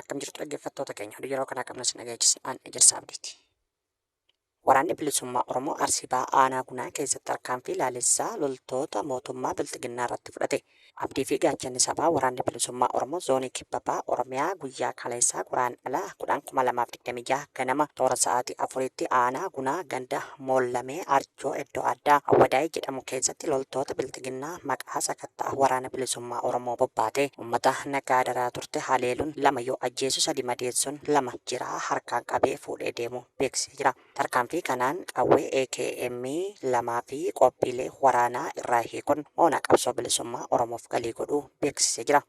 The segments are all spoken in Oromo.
Akkam jirtu dhaggeeffattoota keenya oduu yeroo kanaa qabna sin dhageechisa an ejersa abdiiti. Waraanni bilisummaa Oromoo Arsii Bahaa Aanaa Gunaa keessatti tarkaanfii laalessaa loltoota mootummaa Bilxiginnaa irratti fudhate. Abdii fi gaachanni sabaa waraanni bilisummaa Oromoo zoonii kibba bahaa Oromiyaa guyyaa kaleessaa guraan ala 10,2026 ganama toora sa'aatii afuriitti aanaa Gunaa ganda Moollamee Arjoo Gammachuu iddoo addaa Awwadaay jedhamu keessatti loltoota Bilxiginnaa maqaa sakatta'a Waraana Bilisummaa Oromoo bobbaatee uummata nagaa dararaa turte haleeluun lama yoo ajjeesu sadi madeessuun lama jiraa harkaan qabee fuudhee deemuu beeksisee jira. Tarkaanfii kanaan qawwee AKM lamaa fi qophiilee waraanaa irraa hiikuun moonaa qabsoo bilisummaa Oromoof galii godhuu beeksisee jira.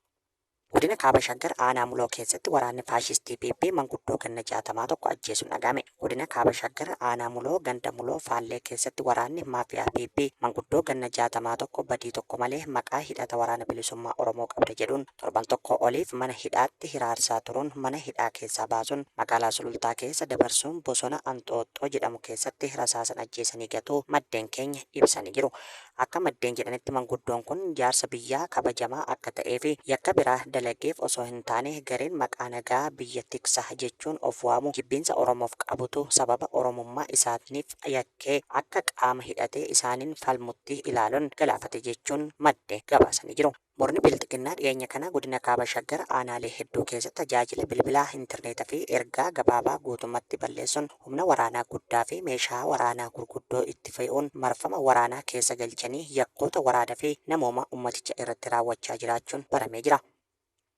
Godina Kaaba Shaggar aanaa Muloo keessatti waraanni faashistii PP manguddoo ganna 60 tokko ajjeesuun dhaga'ame. Godina Kaaba Shaggar aanaa Muloo ganda Muloo Faallee keessatti waraanni maafiyaa PP manguddoo ganna 60 tokko badii tokko malee maqaa hidhata Waraana Bilisummaa Oromoo qabda jedhuun torban tokkoo oliif mana hidhaatti hiraarsaa turuun mana hidhaa keessaa baasuun magaalaa Sulultaa keessa dabarsuun bosona Anxooxxoo jedhamu keessatti rasaasan ajjeesanii gatuu maddeen keenya ibsanii jiru. Akka maddeen jedhanitti manguddoon kun jaarsa biyyaa kabajamaa akka ta'ee fi yakka biraa dalageef osoo hin taane gareen maqaa nagaa biyya tiksa jechuun of waamu jibbiinsa Oromoof qabutu sababa Oromummaa isaatniif yakkee akka qaama hidhatee isaaniin falmutti ilaaluun galaafate jechuun madde gabaasanii jiru. Murni Bilxiginnaa dhiyeenya kana godina Kaaba Shaggar aanaalee hedduu keessatti tajaajila bilbilaa, interneeta fi ergaa gabaabaa guutummatti balleessuun humna waraanaa guddaa fi meeshaa waraanaa gurguddoo itti fe'uun marfama waraanaa keessa galchanii yakkoota waraana fi namoomaa ummaticha irratti raawwachaa jiraachuun baramee jira.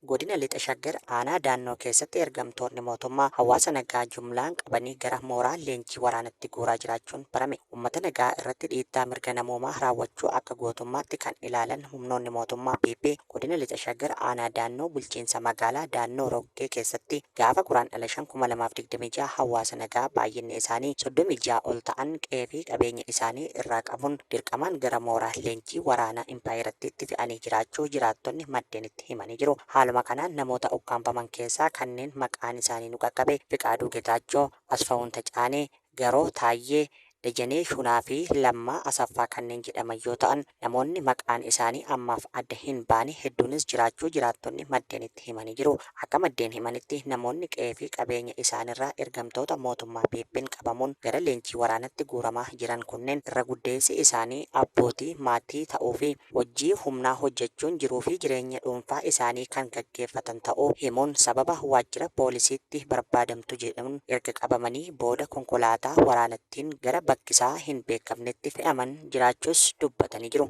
Godina Lixa Shaggar aanaa Daannoo keessatti ergamtoonni mootummaa hawaasa nagaa jumlaan qabanii gara mooraa leenjii waraanatti guuraa jiraachuun barame. Ummata nagaa irratti dhiittaa mirga namoomaa raawwachuu akka gootummaatti kan ilaalan humnoonni mootummaa PP godina Lixa Shaggar aanaa Daannoo bulchiinsa magaalaa Daannoo Roggee keessatti gaafa Guraandhala 5,2026 hawaasa nagaa baay'inni isaanii 36 ol ta'an qe'ee fi qabeenya isaanii irraa qabuun dirqamaan gara mooraa leenjii waraanaa impaayerattiitti fe'anii jiraachuu jiraattonni maddeenitti himanii jiru. Haaluma kanaan namoota ukkaamfaman keessaa kanneen maqaan isaanii nu qaqqabe Fiqaaduu Getaachoo, Asfawuun Tacaanee, Yeroo Taayyee Dajanee Shunaa fi Lammaa Asaffaa kanneen jedhaman yoo ta'an, namoonni maqaan isaanii ammaaf adda hin baane hedduunis jiraachuu jiraattonni maddeenitti himanii jiru. Akka maddeen himanitti, namoonni qe'ee fi qabeenya isaanirraa ergamtoota mootummaa PP'n qabamuun gara leenjii waraanatti guuramaa jiran kunneen irra guddeessi isaanii abbootii maatii ta'uu fi hojii humnaa hojjechuun jiruufi jireenya dhuunfaa isaanii kan gaggeeffatan ta'uu himuun sababa waajjira poolisiitti barbaadamtu jedhuun erga qabamanii booda konkolaataa waraanattiin gara bakkisaa hin beekamnetti fe'aman jiraachuus dubbatanii jiru.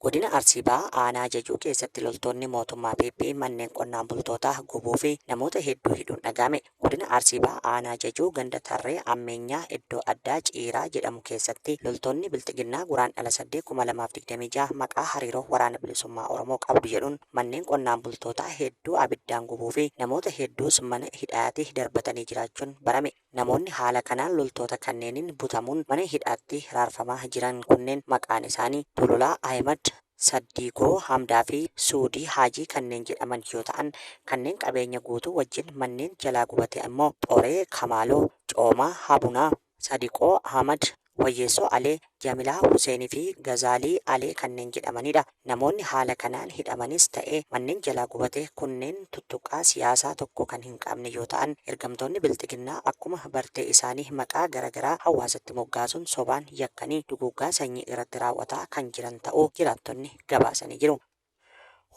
Godina Arsii Bahaa aanaa Jajuu keessatti loltoonni mootummaa PP manneen qonnaan bultootaa gubuufi namoota hedduu hidhuun dhaga'ame. Godina Arsii Bahaa Aanaa Jajuu ganda Tarree Ammeenyaa iddoo addaa Ciiraa jedhamu keessatti loltoonni Bilxiginnaa Guraandhala 8,2026 maqaa hariiroo Waraana Bilisummaa Oromoo qabdu jedhuun manneen qonnaan bultootaa hedduu abiddaan gubuu fi namoota hedduus mana hidhaati darbatanii jiraachuun barame. Namoonni haala kanaan loltoota kanneeniin butamuun mana hidhaatti hiraarfamaa jiran kunneen maqaan isaanii, Tololaa Ahimad, Saddiigoo, Hamdaa fi Suudii Haajii kanneen jedhaman yoo ta'an, kanneen qabeenya guutuu wajjin manneen jalaa gubate ammoo Xoree, Kamaaloo, Coomaa, Habunaa, Sadiqoo, Ahmad, Wayyeessoo Alee, Jamilaa Huseenii fi Gazaalii Alee kanneen jedhamanidha. Namoonni haala kanaan hidhamanis ta'e manneen jalaa gubate kunneen tuttuqqaa siyaasaa tokko kan hin qabne yoo ta'an, ergamtoonni Bilxiginnaa akkuma bartee isaanii maqaa gara garaa hawaasatti moggaasuun sobaan yakkanii duguuggaa sanyii irratti raawwataa kan jiran ta'uu jiraattonni gabaasanii jiru.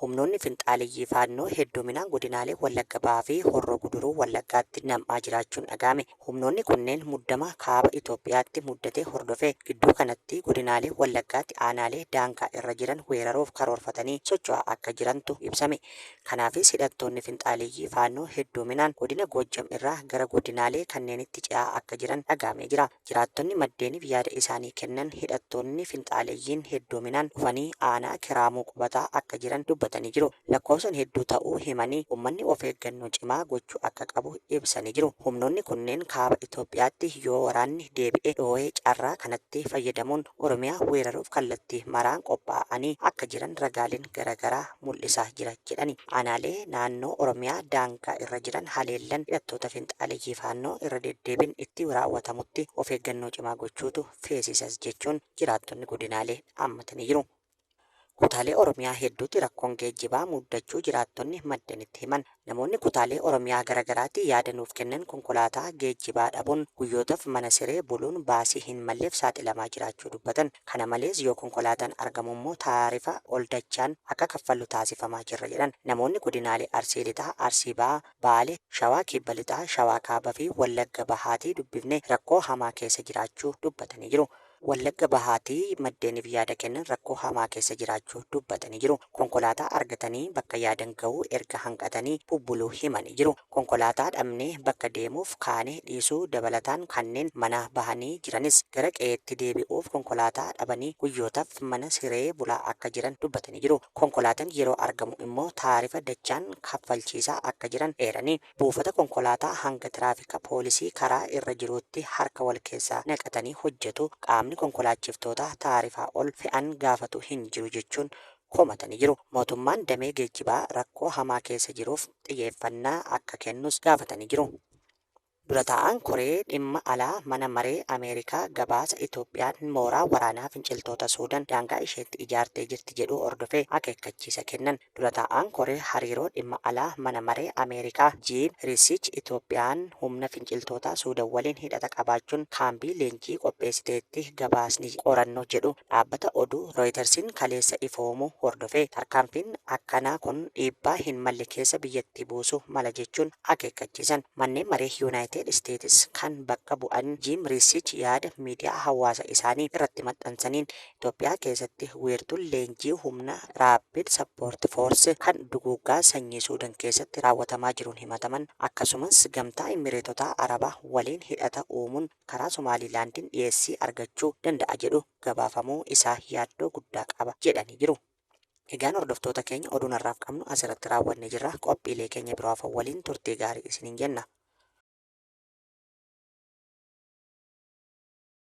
Humnoonni finxaaleyyii Faannoo hedduminaan godinaalee Wallagga Bahaa fi Horroo Guduruu Wallaggaatti nam'aa jiraachuun dhaga'ame. Humnoonni kunneen muddama Kaaba Itoophiyaatti muddate hordofee gidduu kanatti godinaalee Wallaggaatti aanaalee daangaa irra jiran weeraruuf karoorfatanii socho'aa akka jirantu ibsame. Kanaafis hidhattoonni finxaaleyyii Faannoo hedduminaan godina Goojjam irraa gara godinaalee kanneenitti ce'aa akka jiran dhaga'amee jira. Jiraattonni maddeeniif yaada isaanii kennan hidhattoonni finxaaleyyiin heddoominaan dhufanii aanaa Kiraamuu qubataa akka jiran dubbatanii jiru. Lakkoofsan hedduu ta'uu himanii, ummanni of eeggannoo cimaa gochuu akka qabu ibsanii jiru. Humnoonni kunneen kaaba Itoophiyaatti yoo waraanni deebi'e dhoohee carraa kanatti fayyadamuun Oromiyaa weeraruuf kallattii maraan qophaa'anii akka jiran ragaaleen garagaraa mul'isaa jira jedhani. Aanaalee naannoo Oromiyaa daangaa irra jiran haleellan hidhattoota finxaaleyyii Faannoo irra deddeebin itti raawwatamutti of eeggannoo cimaa gochuutu feesisas jechuun jiraattonni godinaalee dhaammatanii jiru. Kutaalee Oromiyaa hedduutti rakkoon geejjibaa muddachuu jiraattonni maddeen itti himan. Namoonni kutaalee Oromiyaa gara garaatti yaada nuuf kennan konkolaataa geejjibaa dhabuun guyyootaf mana siree buluun baasii hin malleef saaxilamaa jiraachuu dubbatan. Kana malees yoo konkolaataan argamu immoo taarifa ol dachaan akka kaffallu taasifamaa jirra jedhan. Namoonni godinaalee Arsii Lixaa, Arsii Bahaa, Baale, Shawaa Kibba Lixaa, Shawaa Kaaba fi Wallagga Bahaatii dubbifne rakkoo hamaa keessa jiraachuu dubbatanii jiru. Wallagga Bahaatti maddeeniif yaada kennan rakkoo hamaa keessa jiraachuu dubbatanii jiru. Konkolaataa argatanii bakka yaadan gahuu erga hanqatanii bubbuluu himanii jiru. Konkolaataa dhabnee bakka deemuuf kaane dhiisuu dabalataan kanneen manaa bahanii jiranis gara qe'eetti deebi'uuf konkolaataa dhabanii guyyootaf mana siree bulaa akka jiran dubbatanii jiru. Konkolaatan yeroo argamu immoo taarifa dachaan kaffalchiisaa akka jiran eeranii, Buufata konkolaataa hanga tiraafika poolisii karaa irra jiruutti harka wal keessaa naqatanii hojjetu, qaamni konkolaachiftoota taarifaa ol fe'an gaafatu hin jiru jechuun komatanii jiru. Mootummaan damee geejjibaa rakkoo hamaa keessa jiruuf xiyeeffannaa akka kennus gaafatanii jiru. Dura taa'aan koree dhimma alaa mana maree Ameerikaa gabaasa Itoophiyaan mooraa waraanaa finciltoota Suudan daangaa isheetti ijaartee jirti jedhuu hordofee akeekkachiisa kennan. Dura taa'aan koree hariiroo dhimma alaa mana maree Ameerikaa Jiim Riisiich Itoophiyaan humna finciltootaa Suudan waliin hidhata qabaachuun kaambii leenjii qopheessiteetti gabaasni qorannoo jedhu dhaabbata oduu Rooyitarsiin kaleessa ifoomuu hordofee tarkaanfiin akkanaa kun dhiibbaa hin malle keessa biyyattii buusu mala jechuun akeekkachiisan manneen maree Yuunaayitid Isteetis kan bakka bu'an Jiim Riisiich yaada miidiyaa hawaasa isaanii irratti maxxansaniin Itoophiyaa keessatti wiirtuun leenjii humna Rapid Support Force kan duguuggaa sanyii Suudan keessatti raawwatamaa jiruun himataman akkasumas Gamtaa Immireetota Arabaa waliin hidhata uumuun karaa Somaaliilaandiin dhiyeessii argachuu danda'a jedhu gabaafamuu isaa yaaddoo guddaa qaba jedhanii jiru. Egaan hordoftoota keenya oduun har'aaf qabnu asirratti raawwannee jirra. Qophiilee keenya biroo hafan waliin turtii gaarii isiniin jenna.